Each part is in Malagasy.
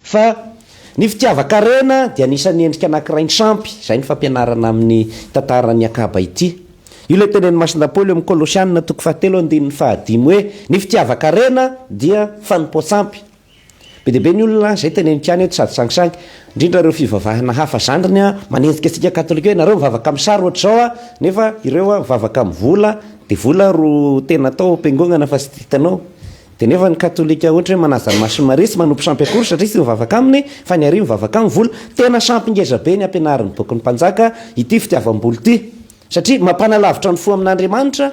Fa ny fitiavan-karena dia anisan'ny endrika anankiray nisampy, izay ny fampianarana amin'ny tantaran'i Akaba ity. Io ilay tenenin'i Masina Paoly ao amin'ny Kolosianina toko fahatelo andininy fahadimy hoe, ny fitiavan-karena dia fanompoan-tsampy. Be dia be ny olona izay teneniko ihany eto sady sangisangy, indrindra ireo fivavahana hafa zandriny, manenjika antsika katolika hoe ianareo mivavaka amin'ny sary ohatr'izao an, nefa ireo mivavaka amin'ny vola, dia vola ro tena atao am-piangonana fa tsy hitanao Dia nefa ny katolika ohatra hoe manaja ny masin'i Maria tsy manompo sampy akory satria tsy mivavaka aminy fa ny aria mivavaka amin'ny vola. Tena sampy ngeza be ny ampianarin'ny bokin'ny mpanjaka ity fitiavam-bola ity satria mampanalavitra ny fo amin'Andriamanitra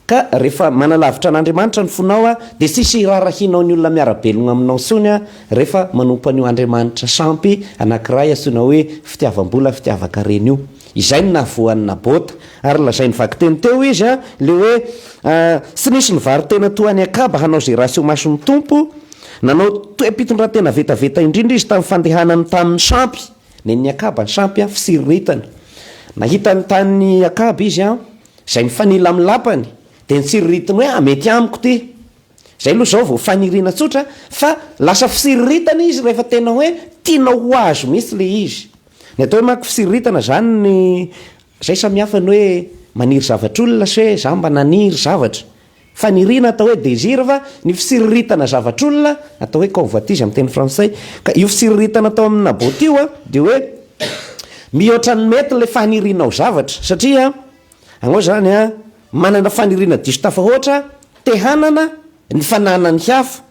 ka rehefa manalavitra an'Andriamanitra ny fonao dia tsisy hirarahianao ny olona miara-belogna aminao intsony rehefa manompo an'io Andriamanitra sampy anankiray antsoina hoe fitiavam-bola fitiavan-karena io. Izay no nahavoa an'i Nabota. Ary nolazain'ny vakiteny teo izy, ilay hoe, Tsy nisy nivaro-tena toa an'i Akaba hanao izay ratsy eo mason'ny Tompo. Nanao toe-pitondrantena vetaveta indrindra izy tamin'ny fandehanany tamin'ny sampy. Nen'i Akaba ny sampy, fitsiriritany. Nahita ny tanin'i Akaba izy, izay mifanila amin'ny lapany, dia nitsiriritiny hoe, Mety amiko ity. Izay aloha izao vao faniriana tsotra fa lasa fisiriritana izy rehefa tena hoe tianao ho azo mihitsy ilay izy. Ny atao hoe manko fisiriritana izany ny izay samihafa ny hoe maniry zavatr'olona sy hoe za mba naniry zavatra. Faniriana atao hoe désir fa ny fisiriritana zavatr'olona atao hoe convoitise amin'ny teny frantsay. Ka io fisiriritana atao amin'i Naboth io dia hoe mihoatra ny mety ilay fanirianao zavatra satria Anao izany an, manana faniriana diso tafahoatra te hanana ny fananan'ny hafa,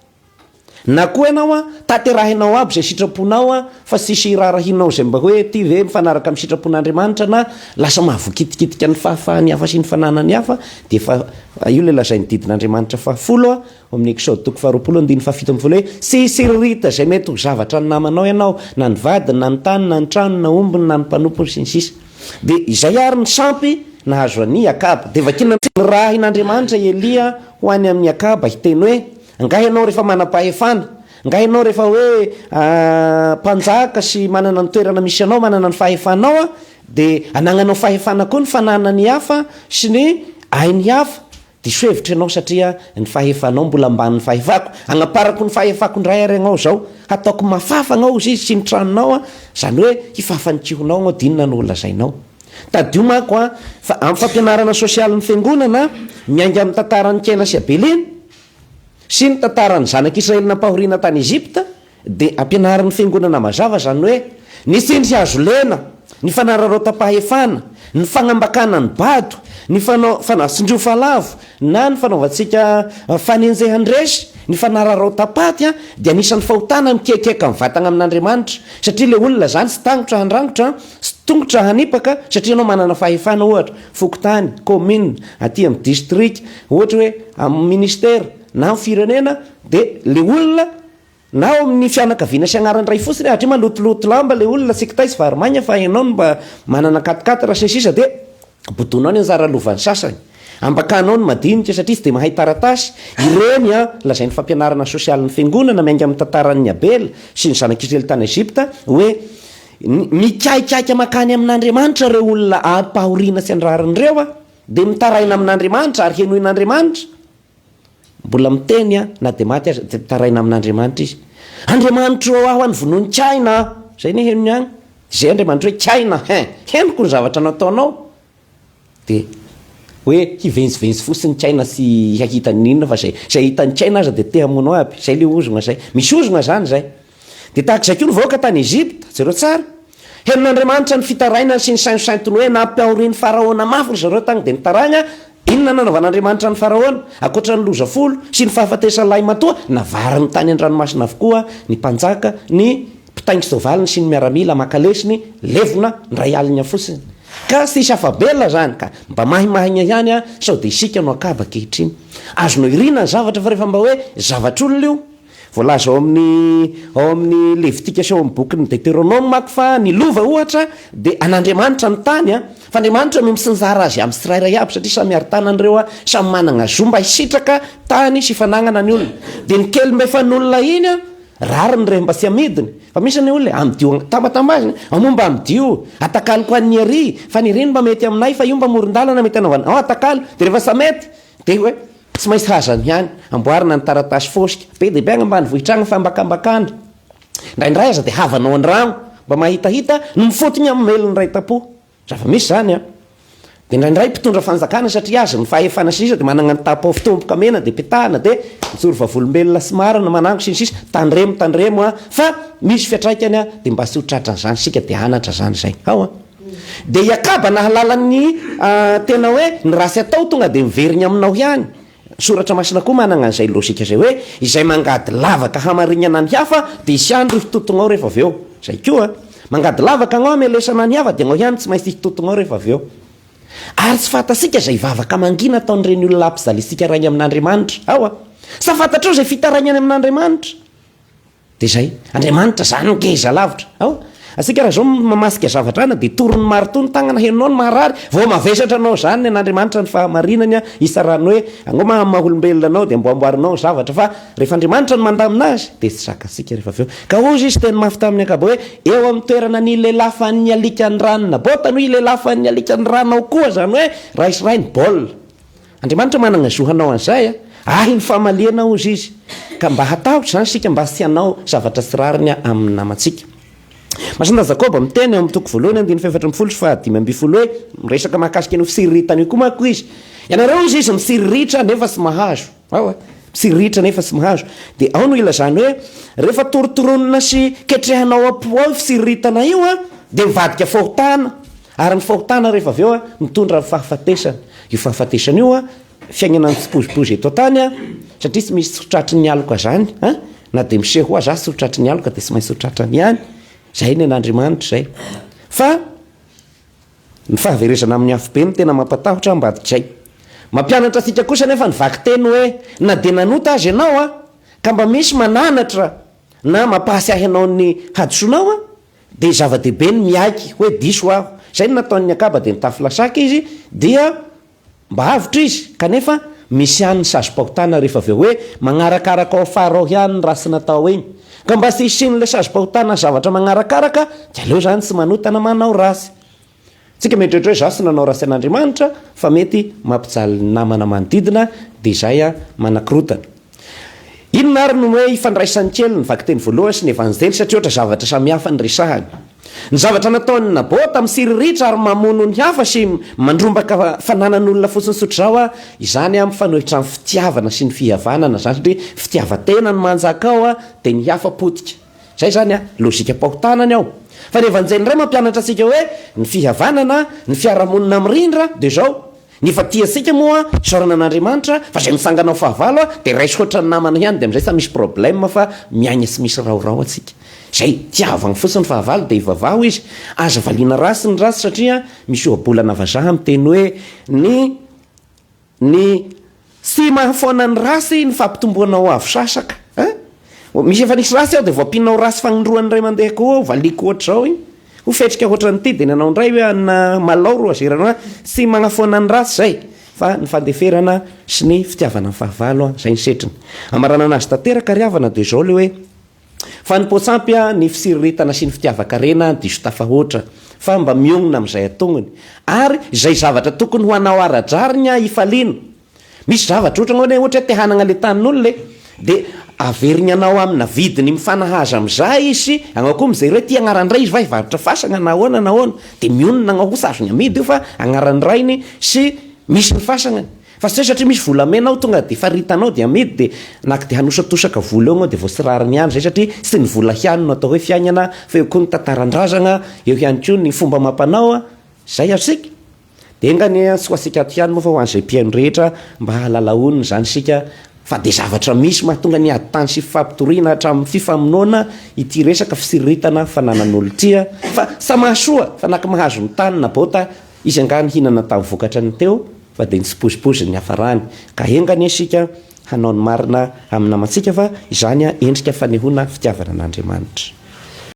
na koa ianao an, tanterahinao aby izay sitraponao an, fa tsisy hiraharahianao izay mba hoe ity ve mifanaraka amin'ny sitrapon'Andriamanitra na lasa mahavoakitikitika ny fahafahan'ny hafa sy ny fananan'ny hafa, dia efa io ilay lazain'ny didin'Andriamanitra fahafolo ao amin'ny Eksoda toko faharoapolo andininy fahafito ambin'ny folo hoe, Tsy hisiririta izay mety ho zavatra ny namanao ianao, na ny vadiny, na ny tany, na ny tranony, na ombiny, na ny mpanompony, sy ny sisa. Dia izay àry ny sampy nahazo an' i Akaba. Dia vakiana amin'izay nirahin' Andriamanitra i Elia ho any amin' i Akaba, hiteny hoe, Angaha ianao rehefa manam-pahefana, angaha ianao rehefa hoe mpanjaka sy manana ny toerana misy anao, manana ny fahefanao, dia anagnanao fahefana koa ny fananany hafa sy ny ainy hafa, Diso hevitra ianao satria ny fahefanao mbola ambanin'ny fahefako. Hagnaparako ny fahefako indray ary agnao izao. Hataoko mafafa agnao izy sy ny tranonao an, izany hoe hifafa ny kihonao agnao dia inona no ho lazainao. Tadidio manko an, fa amin'ny fampianarana sosialin'ny fiangonana miainga amin'ny tantaran'i Kena sy Abelina sy ny tantaran'ny zanak'Israely nampahoriana tany Egypta, Dia ampianarin'ny Fiangonana mazava izany hoe ny tsindry hazo lena, ny fanararaotam-pahefana, ny fagnambakana ny bado, ny fanao, fanao tsindriofa lavo, na ny fanaovantsika fanenjehan-dresy, ny fanararaotam-paty an, dia anisan'ny fahotana mikiakiaka ny vatagna amin'Andriamanitra, satria ilay olona izany tsy tahotra handrangotra, tsy tongotra hanipaka, satria ianao manana fahefana ohatra, fokontany, commune, aty amin'ny distrika, ohatra hoe amin'ny ministera, na amin'ny firenena, dia ilay olona, Na ao amin'ny fianakaviana sy anaran'ny ray fotsiny hatria malotoloto lamba ilay olona tsy kitay sy vary maina fa ianao no mba manana ankatonkato ra sy ny sisa dia bodonao ny anjara lovan'ny sasany. Ambakanao ny madinika satria tsy dia mahay taratasy ireny an! Lazain'ny fampianarana sosialin'ny fiangonana miainga amin'ny tantaran'ny Abela sy ny zanak'Israely tany Egypta hoe mikaikaika makany amin'Andriamanitra ireo olona ampahoriana tsy andrarin'ireo dia mitaraina amin'Andriamanitra ary henoin'Andriamanitra Mbola miteny an, na dia maty aza dia mitaraina amin'Andriamanitra izy. Andriamanitro ô aho an, vonoin'ny kiaina aho. Izay ny henony an. Izay Andriamanitro hoe kiaina hein, henoko ny zavatra nataonao. Dia hoe hivenzivenzy fotsiny ny kiaina sy hahita ny inona fa izay izay hitan'ny kiaina aza dia te hamono aby. Izay ilay ozona izay. Misy ozona izany izay. Dia tahaka izay koa ny vahoaka tany Egypta. Jereo tsara. Henon'Andriamanitra ny fitarainany sy ny sainsosaintony hoe nampiaorin'i Faraona mafy ry zareo tany dia nitaragna. Inona no nanaovan'Andriamanitra an'i Faraona? Ankoatra ny loza folo sy ny fahafatesan'ny lahimatoa, navariny tany an-dranomasina avokoa ny mpanjaka, ny mpitaingin-tsoavaliny sy ny miaramila maka lesony, levona indray alina fotsiny. Ka tsisy afa-bela izany ka. Mba mahimahigna ihany aho sao dia isika no akaba ankehitriny. Azonao iriana ny zavatra fa rehefa mba hoe zavatr'olona io. Voalaza ao amin'ny ao amin'ny Levitika sy ao amin'ny bokin'ny Deteronoma manko fa ny lova, ohatra, dia an'Andriamanitra ny tany, fa Andriamanitra no misinjara azy amin'ny tsirairay avy satria samy arin-tanany ireo, samy manana zo mba hisitraka tany sy fananana ny olona. Dia ny kely mba efa nonina iny, rariny rehefa mba tsy amidiny. Fa misy ny olona e, amidio tambatambaziny, ao moa mba amidio, atakaloko an'ny ery, fa ny ery no mba mety aminay, fa io mba moron-dalana mety anaovana, ao atakalo, dia rehefa tsy mety dia hoe. Tsy maintsy hazany ihany, amboarina ny taratasy fosika, be dia be any ambanivohitra any ny fambakambakana. Indraindray aza dia havanao an-drano mba mahitahita ny mifotony amin'ny mail-ny Raitampo. Zava-misy izany an! Dia indraindray mpitondra fanjakana satria azy ny fahefana sy ny sisa dia manana ny tapaho fitomboka mena dia petahana dia mijoro vavolombelona sy marina manango sy ny sisa. Tandremo, tandremo an! Fa misy fiatraikany an! Dia mba tsy ho tratran'izany isika dia hanatra izany izay. Ao an! Dia iakaba nahalala ny tena hoe ny ratsy atao tonga dia miverigny aminao ihany. Ny soratra masina koa managna an'izay logika izay hoe izay mangady lavaka hamarignana ny hafa dia hisy ihany rifitotognao rehefa avy eo. Izay koa. Mangady lavaka agnao hamelesana ny hafa dia agnao ihany tsy maintsy hifitotognao rehefa avy eo. Ary tsy fantatsika izay vavaka mangina ataon'ireny olona ampijaliantsika raha ny amin'Andriamanitra. Aoa. Sa fantatrao izay fitaraigna any amin'Andriamanitra? Dia izay. Andriamanitra izany ngeza lavitra. Aoa. Antsika raha izao mamasika zavatra ana dia torin'ny maritoa ny tagnana henonao ny maharary vao mavesatra anao izany ny an'Andriamanitra ny fahamarinany an, hitsarany hoe angoa maha maha olombelona anao dia amboamboarinao ny zavatra fa rehefa Andriamanitra no mandamina azy dia tsy zakatsika rehefa avy eo. Ka hozy izy teny mafy tamin'ny ankabe hoe eo amin'ny toerana nilelafan'ny alikan'ny rano Nabota no hilelafan'ny alikan'ny rano ao koa izany hoe raisirainy baolina. Andriamanitra managna zo hanao an'izay a! Ahy ny famaliana hozy izy. Ka mba hatahotra izany isika mba tsy hanao zavatra tsy rariny amin'ny namantsika. Masindahy Jakoba miteny ao amin'ny toko voalohany andininy fahefatra ambin'ny folo sy fahadimy ambin'ny folo hoe, miresaka mahakasika an'io fitsiriritana io koa manko izy. Ianareo hozy izy mitsiriritra nefa tsy mahazo. Ao a! Mitsiriritra nefa tsy mahazo. Dia ao no ilazany hoe, rehefa torotoronina sy ketrehina ao am-po ao io fitsiriritana io a, dia mivadika fahotana. Ary ny fahotana rehefa avy eo mitondra amin'ny fahafatesana. Io fahafatesana io fiainana mitsipozipozy eto an-tany satria tsy misy tsy tratry ny aloka izany a! Na dia misehoa aza tsy ho tratry ny aloka dia tsy maintsy ho tratrany ihany. Izay ny an'Andriamanitra izay. Fa ny fahaverezana amin'ny afobe no tena mampatahotra ambadik'izay. Mampianatra antsika kosa anefa ny vakiteny hoe na dia nanota aza ianao ka mba misy mananatra na mampahatsiahy anao ny hadisoanao Dia zava-dehibe ny miaiky hoe diso aho. Izay no nataon'ny akaba dia nitafy lasaka izy dia mba avotra izy. Kanefa misy ihany ny sazim-pahotana rehefa avy eo hoe magnarakaraka ao afara ao ihany ny ratsy natao iny. Ka mba tsy hisian'ilay sazim-pahotana ny zavatra magnarakaraka dia aleo izany tsy manota na manao ratsy. Tsika mieritreritra hoe zah sy nanao ratsy an'Andriamanitra fa mety mampijaly ny namana manodidina dia izay an manakorotana. Inona ary no hoe ifandraisan'ny kely ny vakiteny voalohany sy ny evanjely satria ohatra zavatra samihafa ny resahany. Ny zavatra nataon'i Nabota misiriritry ary mamono ny hafa sy mandrombaka fananan'olona fotsiny tsotra izao an izany an mifanohitra amin'ny fitiavana sy ny fihavanana izany satria fitiavantena no manjaka ao an dia ny hafa potika. Izay izany an, lojikam-pahotana ny ao. Fa ny Evanjely indray mampianatra antsika hoe ny fihavanana, ny fiarahamonina mirindra dia izao, ny efa tia antsika moa isaorana an'Andriamanitra, fa izay mitsangana ho fahavalo an, dia raiso hoatran'ny namana ihany, dia amin'izay tsy misy problème fa miaina tsy misy raorao antsika. Izay tiavany fotsiny fahavalo dia ivavaho izy, aza valiana ratsy ny ratsy satria misy ohabolana vazaha miteny hoe ny Ny tsy mahafoana ny race ny fampitomboana ho avo sasaka a! Misy efa nisy race aho dia voampinina ho race fagnindroany indray mandeha koa ao, valiako ohatr'izao iny. Ho fetrika ohatran'ity dia ny anao indray hoe anona malao ro azerana hoa, tsy magnafoana ny race izay fa ny fandeferana sy ny fitiavana ny fahavalo a! izay ny setriny. Hamaranana azy tanteraka ry havana dia izao ilay hoe, Fa ny poats'ampy a, ny fisirirtana sy ny fitiavan-karena an diso tafahoatra, fa mba mionona amin'izay ataony. Ary izay zavatra tokony ho anao ara-drariny a hifaliana. Misy zavatra ohatra angamba hoe ohatra hoe te hanagna le tanin'olona e, dia averigny anao amina vidiny mifanahaza amin'izay izy sy agnao koa mijery hoe ty agnaran'ny ray izy va hivarotra fasagna na ahoana na ahoana, dia mionona agnao kosa azony amidy io fa agnaran'ny rainy sy misy ny fasagnany. Fa tsy hay satria misy volamena ao tonga dia faritanao dia amidy dia naka dia hanosatosaka vola eo ianao dia vao tsy rariny ihany izay satria tsy ny vola ihany no atao hoe fiainana fa eo koa ny tantaran-drazagna, eo ihany koa ny fomba amam-panao, izay asika dia enga anie tsy ho antsika ato ihany moa fa ho an'izay mpihaino rehetra mba hahalala honina izany isika fa dia zavatra misy mahatonga ny ady tany sy fifampitoriana hatramin'ny fifamonoana ity resaka fisiriritana fananan'olon-tria fa samy mahasoa fa na koa mahazo ny tany na bota Izy angaha nihinana tamin'ny vokatra ny teo fa dia nitsipozipozy ny niafarany. Ka enga anie isika hanao ny marina amin'ny namantsika fa izany endrika fanehoana fitiavana an'Andriamanitra.